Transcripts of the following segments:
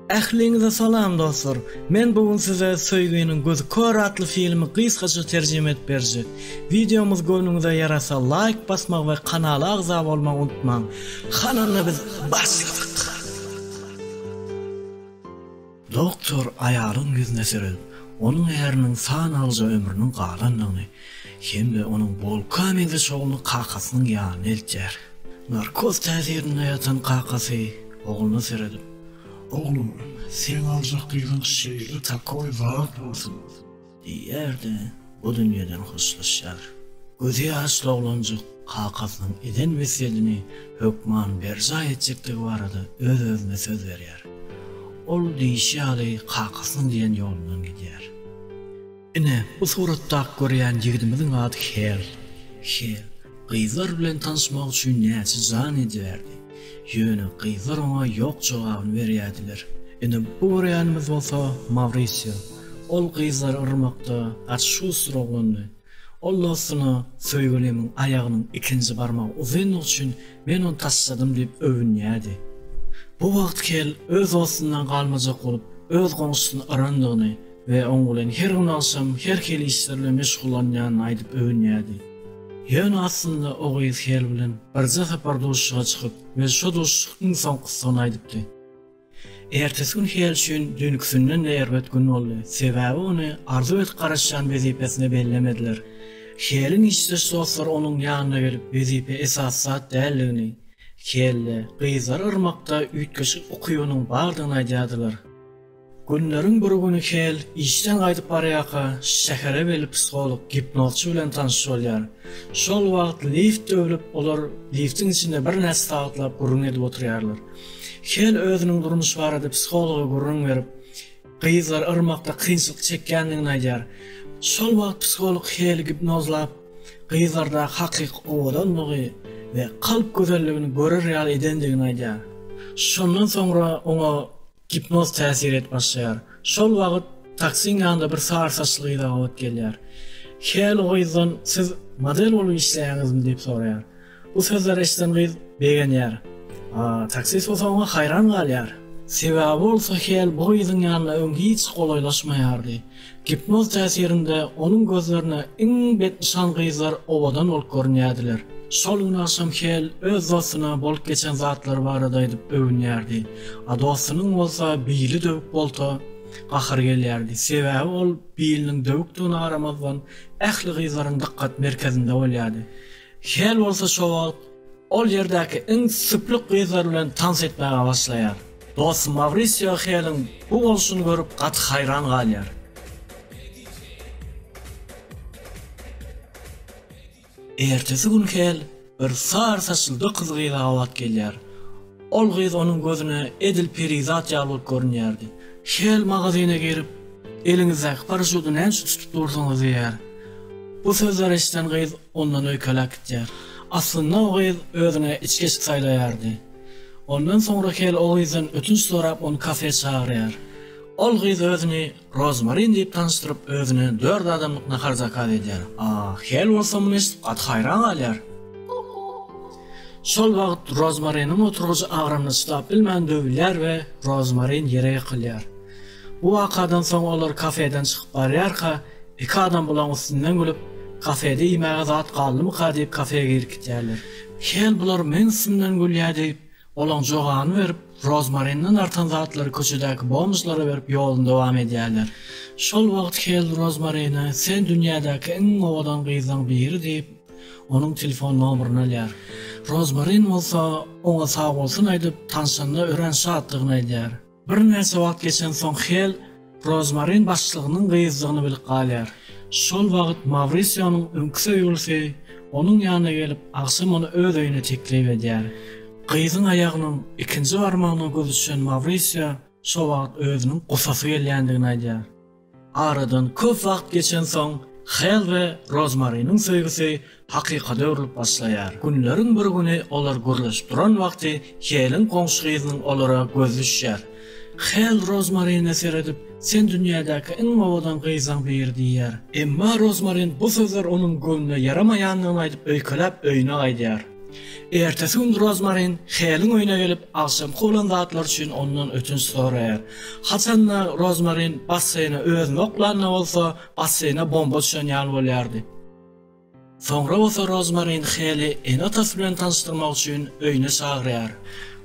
Ähliňize salam dostlar! Men bu gün size Söýginiň gözi kör atly filmi gysgaça terjime edip berjek. Wideomyz göwnüňize ýarasa laýk basmagy we kanala agza bolmagy unutmaň! Hananda biz başladyk! Doktor aýalyň ýüzüne seredip, onuň äriniň san alyja ömrüniň galandygyny hem-de onuň bolka meňzeş ogluny kakasynyň ýanyna eltýär. Narkoz täsirinde ýatan kakasy ogluna seredip. Oglum, seň aljak gyzyň şeýle takoý zat bolsun. Diýýär-de, bu dünýeden hoşlaşýar. Gözi ýaşly oglanjyk kakasynyň eden wesýedini hökman berjaý etjekdigi barada öz-özüne söz berýär. Ol diýşi ýaly kakasynyň diýen ýolundan gidýär. Ine, bu suratdaky görýän ýigidimiziň ady Hel. Hel gyzlar bilen tanyşmak üçin näçe jan edýärdi. Ýöne gyzlar oňa ýok jogabyny berýärdiler. Ine, bu görýänimiz bolsa Mawrisio. Ol gyzlary yrmakda gaty şustur oglandy. Ol dostuna Söýgülimň aýagynyň ikinji barmagy uzyndygy üçin men ony taşladym diýip öwünýärdi. Bu wagt Kel öz dostundan galmajak bolup, öz goňşusyny yrandygyny we oň bilen her gün agşam her hili işler bilen meşgullanýanyny aýdyp öwünýärdi. Ýöne aslynda o gyz Hel bilen birje sapar duşuşyga çykyp we şo duşuşyk iň soňkusydygyny aýdypdy. Ertesi gün Hel üçin düýnküsinden-de erbet gün boldy, sebäbi ony arzuw edip garaşýan wezipesine bellemediler. Heliň işdeş dostlary onuň ýanyna gelip wezipe esasy zat däldigini, Helde, gyzlary yrmakda üýtgeşik ukybynyň bardygyny aýdýardylar. Günleriň bir güni Kel işden gaýdyp barýarka, şähere weli psiholog, gipnozçy bilen tanyş bolýar. Şol wagt lift döwlüp, olar liftiň içinde birnäçe sagatlaap gürrüň edip oturýarlar. Kel özüniň durmuş barada psihologa gürrüň berip, gyzlary yrmakda kynçylyk çekýändigini aýdýar. Şol wagt psiholog Keli gipnozlap, gyzlardaky hakyky owadanlygy we kalp gözelligini görer ýaly edendigini aýdýar. Şondan soňra oňa Gipnoz täsir edip başlaýar. Şol wagyt taksiň ýanynda bir sar saçly gyz agabat gelýär. Hel o gyzdan siz model bolup işleýäňizmi diýip soraýar. Bu sözleri eşiden gyz begenýär. Taksist bolsa oňa haýran galýar. Sebäbi bolsa Hel bu gyzyň ýanyna öň hiç golaýlaşmaýardy. Gipnoz täsirinde onuň gözlerine iň betnyşan gyzlar owadan bolup görünýärdiler. Şol gün agşam Hel öz dostuna bolup geçen zatlary barada aýdyp öwünýärdi. A dostunyň bolsa Billi döwüp bolsa, gahary gelýärdi. Sebäbi ol Billiniň döwükdigine garamazdan, ähli gyzlaryň dykgat merkezinde bolýardy. Hel bolsa şo wagt ol ýerdäki iň süplük gyzlar bilen tans etmäge başlaýar. Dostum Mawrisio Heliň bu bolşuny görüp gaty haýran galýar. Ertesi gün Hel bir sary saçly gyz-gyza gabat gelýär. Ol gyz onuň gözüne edil perizat ýaly bolup görünýärdi. Hel magazyna girip, Eliňizdäki paraşudy näme üçin tutup dursuňyz diýýär. Bu sözleri eşiden gyz ondan öýkeläp gidýär. Aslynda o gyz özüne içgeçdi saýlaýardy. Ondan soňra Hel o gyzdan ötünç sorap, ony kafä çagyrýar. Ol gyz özüni Rozmarin diýip tanyşdyryp, özüne dört adamlyk nahar zakaz edýär. Hel bolsa muny eşidip gaty haýran galýar. Şol wagt Rozmariniň oturgyjy agramyny çydap bilmän döwülýär we Rozmarin ýere ýykylýar. Bu wakadan soň olar kafeden çykyp barýarka, iki adam bulaň üstünden gülüp, Kafede iýmäge zat galdymyka diýip kafeýe girip gitýärler. Hel bular meň üstümden gülýä diýip, olaň jogany berip, rozmarinden artan zatlary köçedäki bomžlara berip ýoluny dowam edýärler. Şol wagt Hel rozmarine sen dünýädäki iň owadan gyzlaň biri diýip, onuň telefon nomerini alýar. Rozmarin bolsa oňa sagbolsun aýdyp, tanşanyna örän şatdygyny aýdýar. Birnäçe wagt geçensoň Hel Rozmarin başlygynyň gyzdygyny bilip galýar. Şol wagt Mawrisionyň öňki söýgülisi onuň ýanyna gelip, agşam ony öz öýüne teklip edýär. Gyzyň aýagynyň ikinji barmagyna göz düşen Mawrisio şo wagt özüniň gusasy gelýändigini aýdýar. Aradan köp wagt geçensoň, Hel we Rozmariniň söýgüsi hakykata öwrülip başlaýar. Günleriň bir güni olar gürleşip duran wagty Heliň goňşy gyzynyň olara gözi düşýär. Hel Rozmarine seredip, Sen dünýädäki iň owadan gyzaň biri diýýär. Emma Rozmarin bu sözler onuň göwnüne ýaramaýandygyny aýdyp öýkeläp öýüne gaýdýar. Ertesi gün Rozmarin Heliň öýüne gelip, agşamky bolan zatlary üçin ondan ötünç soraýar. Haçan-da Rozmarin basseýne özüni oklanda bolsa, basseýne bomba düşen ýaly bolýardy. Soňra bolsa Rozmarin Heli ene-atasy bilen tanyşdyrmak üçin öýüne çagyrýar.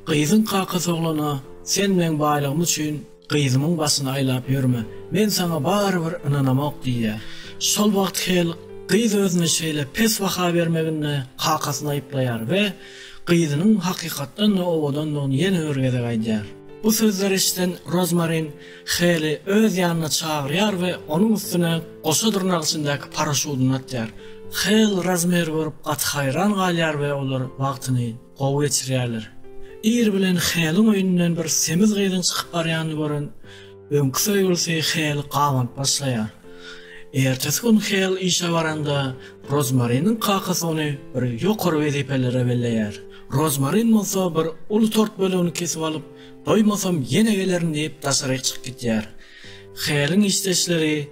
Gyzyň kakasy oglana, Sen meň baýlygym üçin, Gyzymyň başyny aýlap ýörme, men saňa barybir ynanamok diýýär. Şol wagt Hel gyz özüne şeýle pes baha bermeginde kakasyny aýyplaýar we gyzynyň hakykatdan-da owadandygyny ýene bir gezek aýdýar. Bu sözleri eşiden Rozmarin Heli öz ýanyna çagyrýar we onuň üstüne goşa dyrnak içindäki paraşudyny atýar. Hel Rozmeri görüp gaty haýran galýar we olar wagtyny Gowy geçirýärler. Ir bilen Heliň öýünden bir semiz gyzyň çykyp barýanyny gören öňki söýgülisi Heli gabanyp başlaýar. Ertesi gün Hel işe baranda, Rozmariniň kakasy ony bir ýokary wezipelere belleýär. Rozmarin bolsa bir uly tort bölegini kesip alyp, doýmasam ýene gelerin diýip daşaryk çykyp gidýär. Heliň işdeşleri,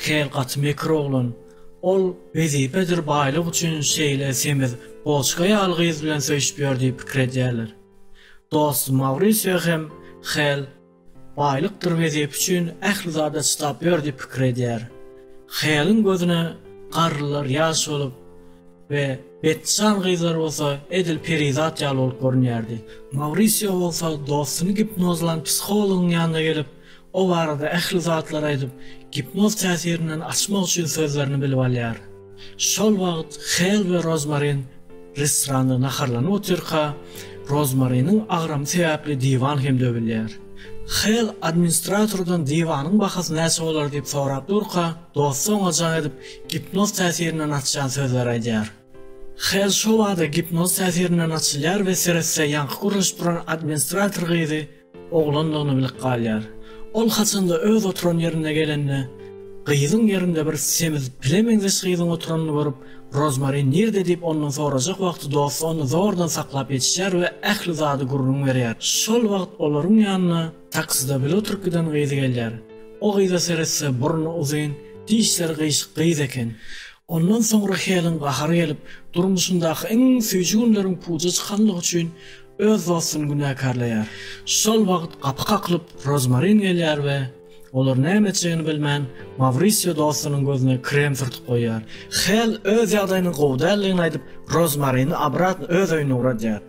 Hel gaty mekir oglan. Ol wezipedir baýlyk üçin şeýle semiz goçga ýaly gyz bilen söýşüp ýör diýip pikir edýärler. Dostum Maurisio hem Hel baýlykdyr wezipe üçin ähli zada çydap ýör diýip pikir edýär. Heliň gözüne garrylar ýaş bolup we betnyşan gyzlar bolsa edil perizat ýaly bolup görünýärdi. Maurisio bolsa dostuny gipnozlan psihologyň ýanyna gelip, O barada ähli zatlary aýdyp, gipnoz täsirinden açmak üçin sözlerini bilip alýar. Şol wagt Hel we Rozmarin restoranda naharlanyp otyrka, Rozmariniň agramy sebäpli diwan hem döwülýär. Hel administratordan diwanyň bahasy näçe bolar diýip sorap durka, dosty oňa jaň edip, gipnoz täsirinden açýan sözleri aýdýar. Hel şo bada gipnoz täsirinden açylýar we seretse ýaňky gürleşip duran administrator gyzy Oglandygyny bilip galýar. Ol haçanda öz oturan ýerine gelende, gyzyň ýerinde bir semiz pile meňzeş gyzyň oturanyny görüp, Rozmarin nirde diýip ondan sorajak wagty dosty ony zordan saklap ýetişýär we ähli zady gürrüň berýär. Şol wagt olaryň ýanyna takside bile oturyp giden gyzy gelýär. O gyza seretse burny uzyn, dişleri gyýşyk gyz eken. Ondan soňra Helen gahary gelip, durmuşyndaky iň süýji günleriň puja çykanlygy üçin öz dostuny günäkärleýär. Şol wagt gapy kakylyp, Rozmarin gelýär we, olar näme etjegini bilmän, Mawrisio dostunyň gözüne krem sürtüp goýýar. Hel öz ýagdaýynyň gowy däldigini aýdyp, Rozmarini obratn öz öýüne ugradýar.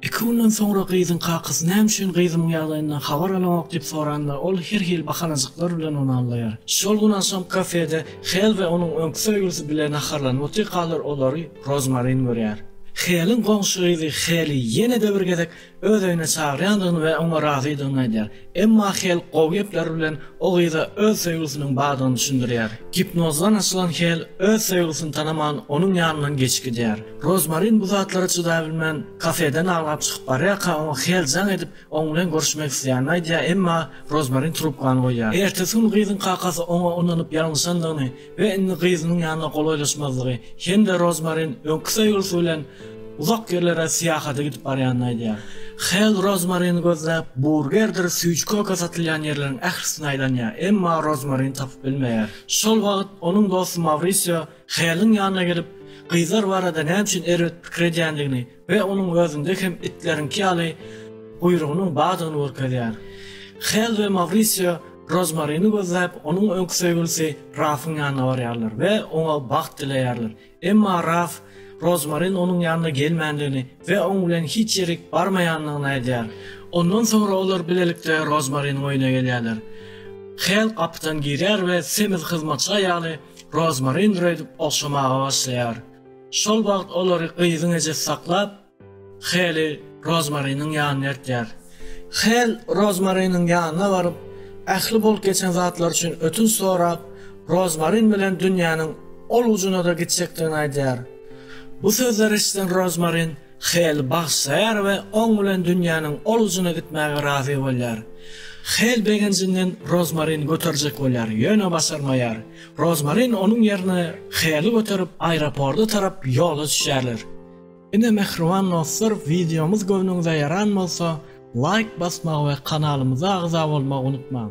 Iki günden soňra gyzyň kakasy näme üçin gyzymyň ýagdaýyndan habar alanok diýip soranda, ol her hili bahanajyklar bilen ony aldaýar. Şol gün agşam kafede Hel we onuň öňki söýgülisi bile naharlanyp otyrkalar olary Rozmarin görýär. Heliň goňşy gyzy Heli ýene-de bir gezek öz öýüne çagyrýandygyny we oňa razydygyny aýdýar. Emma Hel gowy gepler bilen o gyza öz söýgüsiniň bardygyny düşündirýär. Gipnozdan açylan Hel öz söýgüsini tanaman onuň ýanyndan geçip gidýär. Rozmarin bu zatlara çydabilmän, kafeden aglap çykyp barýarka oňa Hel jaň edip, oň bilen görüşmek isleýänini aýdýar, emma Rozmarin trubkany goýýar. Ertesi gün gyzyň kakasy oňa ynanyp ýalňyşandygyny, We indi gyzynyň ýanyna golaýlaşmazlygy hem-de Rozmarin öňki söýgülisi bilen uzak ýerlere syýahata gidip barýanyny aýdýar. Hell Rozmarini gözläp, burgerdir süýji-köke satylýan ýerleriň ählisini aýlanýar, emma Rozmarini tapyp bilmeýär. Şol wagt onuň dosty Mawrisio Helliň ýanyna gelip, gyzlar barada näme üçin erbet pikir edýändigini, we onuň özünde hem itleriňki ýaly guýrugynyň bardygyny görkezýär. Hel we Mawrisio Rozmarini gözläp, onuň öňki söýgülisi Rafyň ýanyna barýarlar we oňa bagt dileýärler. Emma Raf Rozmarin onuň ýanyna gelmändigini we oň bilen hiç ýerik barmaýandygyny aýdýar. Ondan soňra olar bilelikde Rozmariniň öýüne gelýärler. Hel gapydan girýär we semiz hyzmatçy aýaly Rozmarindir öýdüp ogşamaga başlaýar. Şol wagt olary gyzyň ejesi saklap, Heli Rozmariniň ýanyna eltýär. Hel Rozmariniň ýanyna baryp, ähli bolup geçen zatlar üçin ötünç sorap, Rozmarin bilen dünýäniň ol ujuna-da gitjekdigini aýdýar. Bu sözleri eşiden Rozmarin Heli bagyşlaýar we oň bilen dünýäniň ol ujuna gitmäge razy bolýar. Hel begenjinden Rozmarini göterjek bolýar, ýöne başarmaýar. Rozmarin onuň ýerine Heli göterip aeroporda tarap ýola düşýärler. Ine mähriban dostlar wideomyz göwnüňize ýaran bolsa laýk basmagy we kanalymyza agza bolmagy unutmaň.